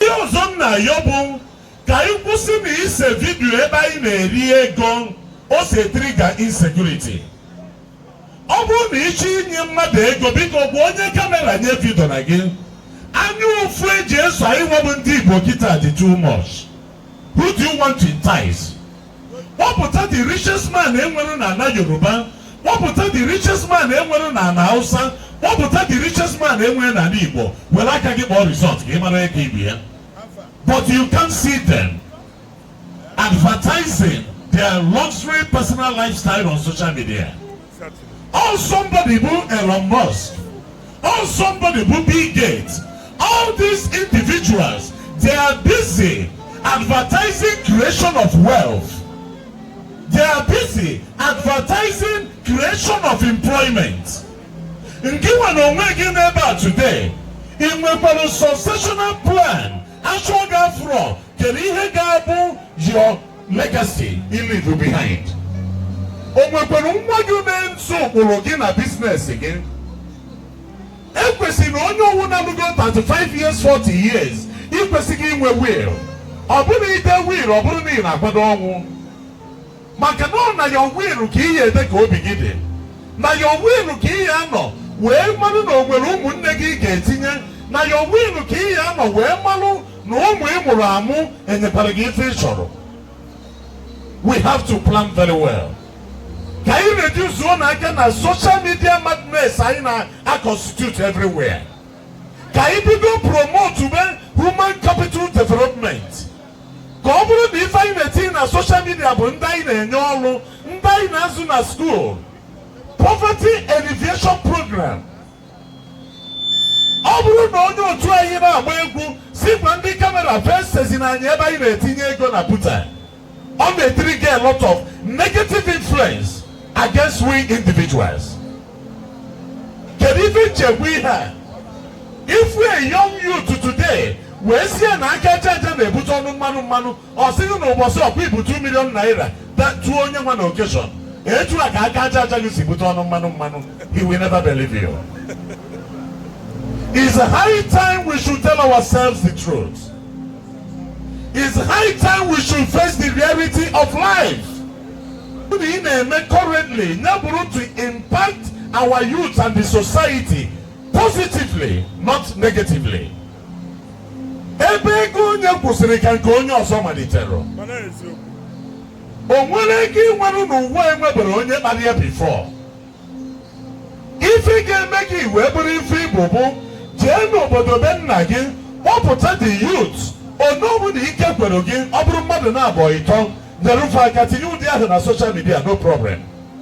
Ihe ọzọ m na-ayọ bụ ka anyị kwụsị na ise vidiyo ebe anyị na-eri ego o so etrigger insecurity. Ọ bụrụ na ịchọ inye mmadụ ego biko gwa onye kamera nya evidiona gị anya ụfụ eji eso anyị nwa bụ ndị Igbo kịta dị too much. Who do you want to entice? kpọpụta the richest man enwere na ala yoruba kpọpụta the richest man enwere na ala hausa kpọpụta the richest man enwere na ala igbo were aka gị kpọọ result ka ị mara ego ibu ya but you can't see them advertising their luxury personal lifestyle on social media Or somebody bụ Elon Musk, or somebody bụ Bill Gates, all these individuals they are busy advertising creation of wealth. They are busy advertising creation of employment. Ngị nwa na onwe gị n'ebe a today, ị nwekwara successional plan achọọ gị afụrọ kedu ihe ga-abụ your legacy you leave behind o nwekwara nwa gị na-eso ụkpụrụ gị na business gị ekwesịrị na onye ọwụna lugo 35 years 40 years i kwesịgo inwe will ọ bụrụ na ide will ọ bụrọ na ị na-akwado ọnwụ maka na ọ na your will ka ị ya-ede ka obi gị dị na your will ka ị ya-anọ wee marụ na onwere ụmụnne gị ị ga-etinye na your will ka ị ya-anọ wee marụ na ụmụ ị mụrụ amụ enyekwarọ gị ife ị chọrọ we have to plan very well ka anyị reduzuonụ aka na social media madness anyị na-aconstitute everywhere ka anyị bido promotube human capital development ka ọ bụrụ na ife anyị na-etinye na social media bụ ndị anyị na-enye ọlụ ndị anyị na-azụ na skuul poverty alleviation program ọ bụrọ na onye otu anyị na-agba egwu si gwa ndị kamera facezienụ anyị ebe anyị na-etinye ego na buta ọ na-etrigger a lot of negative influence against we individuals kedu ife m ji ekwu ihe a ị fụ a young youth today wee sị ya na aka aja aja na-ebute ọnụ mmanụ mmanụ ọ sị gị na ụbọchị ọkwa ibu 2 million naira tụọ onye nwa na occasion etu a ka aka aja aja gị si bute ọnụ mmanụ mmanụ he will never believe you It's high time we should tell ourselves the truth. It's high time we should face the reality of life. na ị na-eme currently ya bụrụ to impact our youth and the society positively not negatively ebe ego onye kwụsịrị ka nke onye ọzọ malitere o nwerọ nke ị nwere n'ụwa enweberọ onye kpara ya before ife ị ga-eme gị wee bụrụ ife ị bụ bụ jee n'obodo be nna gị kpọpụta the youth one ọbụna ike kwere gị ọ bụrụ mmadụ naabọ ịtọ nyere fa aka tinye ụdị ahụ na social media no problem